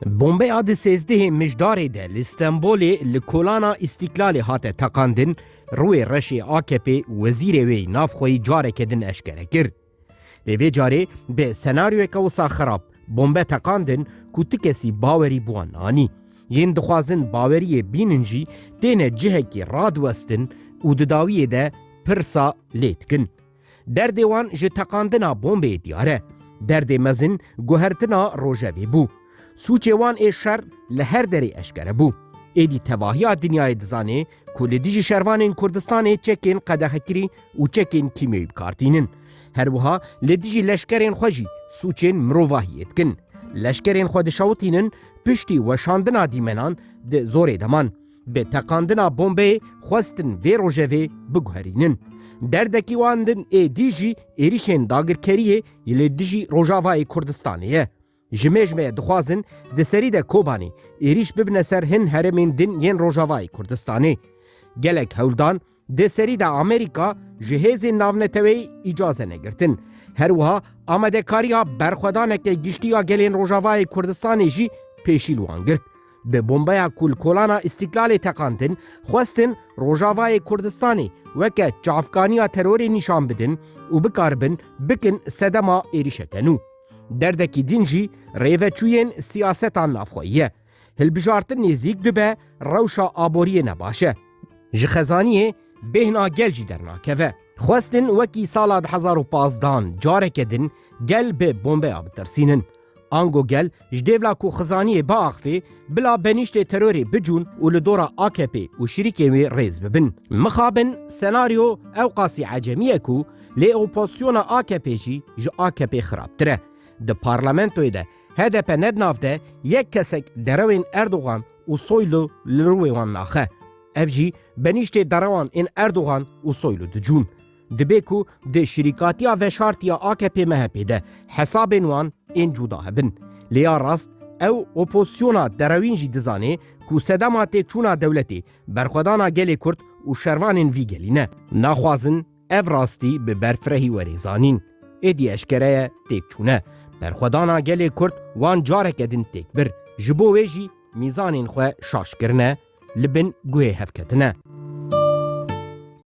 Bombeya di sêzdehê mijdarê de li Stenbolê li kolana Îstîklalê hate teqandin, Rûyê reşê AKP'ê wezîrê wê navxweyî careke din eşkere kir. Lê vê carê bi senaryoyeke wisa xerab bombe teqandin ku tu kesî bawerî bi wan anî. Yên dixwazin baweriyê bînin jî têne cihekî radiwestin û di dawiyê de pirsa lê dikin. Derdê wan ji teqandina bombê diyar e. Derdê mezin guhertina rojevê bû. Sûcê wan ê şer li her derê eşkere bû. Êdî tevahiya dinyayê dizanê ku li dijî şervanên Kurdistanê çekên qedexekirî û çekên kîmyewî bikar tînin. Her wiha li dijî leşkerên xwe jî sûcên mirovahiyê dikin. Leşkerên xwe dişewitînin piştî weşandina dîmenan di zorê de man. Bi teqandina bombeyê xwestin vê rojevê biguherînin. Derdekî wan din êdî jî êrîşên dagirkeriyê li dijî Rojavayê Kurdistanê ye. Ji mêjmê dixwazin di serî de Kobanê êrîş bibine ser hin herêmên din yên Rojavayê Kurdistanê. Gelek hewldan Di serî de Amerîka ji hêzên navneteweyî îcaz e negirtin. Her wiha amadekariya berxwedaneke giştî ya gelên Rojavayê Kurdistanê jî pêşî li wan girt. Bi bombeya ku li kolana Îstîklalê teqandin, xwestin Rojavayê Kurdistanê weke çavkaniya terorê nîşan bidin û bikaribin bikin sedema êrîşeke nû. Derdekî din jî rêveçûyên siyaseta navxweyî ye. Hilbijartin nêzîk dibe rewşa aboriyê ne baş e. Ji xezaniyê bêhna gel jî dernakeve. Xwestin wekî sala di hezar û pazdan careke din gel bi bombeya bitirsînin. Ango gel ji dêvla ku xizaniyê biaxivê bila benîştê terorê bicûn û li dora AKP'ê û şirîkên wê rêz bibin. Mixabin senaryo ewqasî ecemî ye ku lê opozisyona AKP'ê jî ji AKP'ê xirabtir e. Di parlamentoyê de HDP ne di nav de yek kesek derewên Erdogan û Soylu li rûê wan naxe. Ev jî benîştê derewan ên Erdogan û Soylu dicûn. Dibe ku di şirîkatiya veşartî ya AKP-MHP'ê de hesabên wan ên cûda hebin. Lê ya rast ew opozisyona derewîn jî dizanê ku sedema têkçûna dewletê berxwedana gelê Kurd û şervanên vî gelî ne. Naxwazin Ev rastî bi berfirehî werê zanîn. Êdî eşkere ye têkçûne. Berxwedana gelê Kurd wan careke din têk bir. Ji bo wê jî mîzanên xwe şaş kirine, li bin guhê hev ketine.